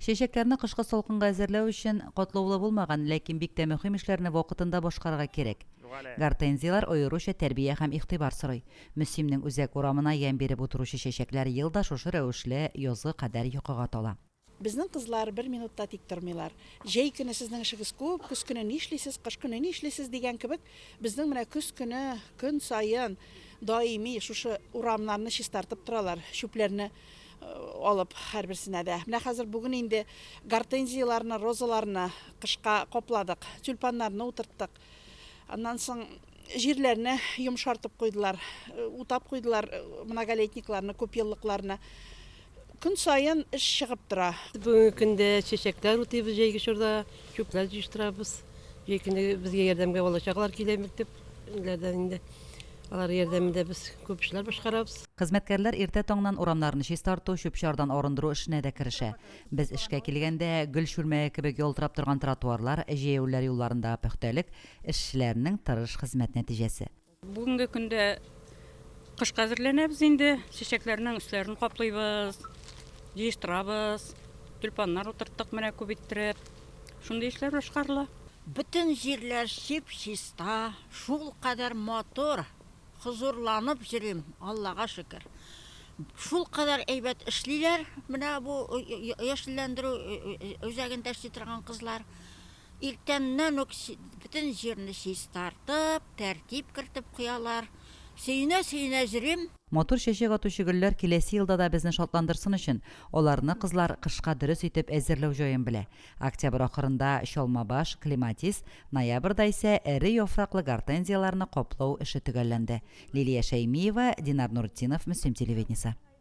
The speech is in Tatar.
Чәчәкләрне кышкы салкынга әзерләү өчен катлаулы булмаган, ләкин бик тә мөһим эшләрне вакытында башкарырга кирәк. Гортензияләр аеруча тәрбия һәм игътибар сорый. Мөсимнең үзәк урамына ямь биреп утыручы чәчәкләр ел да шушы рәвешле язгы кадәр йокыга тала. Безнең кызлар бер минут та тик тормыйлар. Җәй көне сезнең эшегез күп, көз көне нишлисез, кыш көне нишлисез дигән кебек, безнең менә көз көне көн саен даими шушы урамнарны чистартып торалар, чүпләрне алып һәрберсенә дә. Менә хәзер бүген инде гортензияләрне, розаларны кышка капладык, тюльпаннарны утырттык. Аннан соң җирләрне йомшартып куйдылар, утап куйдылар многолетникларны, күпьеллыкларны. Көн саен эш чыгып тора. Бүгенге көндә чәчәкләр утыйбыз, җәйге чорда чүпләр җыештырабыз. Җәй көне безгә ярдәмгә бала-чагалар килә, мәктәп Ирләрдән инде алар ярдәмендә без күп эшләр башкарабыз. Хезмәткәрләр иртә таңнан урамнарны чистарту, чүп-чардан арындыру эшенә дә керешә. Без эшкә килгәндә, гөл чүлмәге кебек ялтырап торган тротуарлар, җәяүләр юлларындагы пөхтәлек, эшчеләрнең тырыш хезмәт нәтиҗәсе. Бүгенге көндә кышка әзерләнәбез инде. Чәчәкләрнең өсләрен каплыйбыз, җыештырабыз. Тюльпаннар утырттык менә күп иттереп. Шундый эшләр башкарыла. Бөтен җирләр чип-чиста, шулкадәр матур, хозурланып йөрим, Аллага шөкер. Шулкадәр әйбәт эшлиләр менә бу яшелләндерү үзәгендә эшли торган кызлар. Иртәннән үк бөтен җирне чистартып, тәртип кертеп куялар. Сөенә-сөенә йөрим. Матур чәчәк атучы гөлләр киләсе елда да безне шатландырсын өчен, аларны кызлар кышка дөрес итеп әзерләү җаен белә. Октябрь ахырында чалмабаш, клематис, ноябрьдә исә эре яфраклы гортензияләрне каплау эше төгәлләнде. Лилия Шәймиева, Динар Нуретдинов, Мөслим телевидениесе.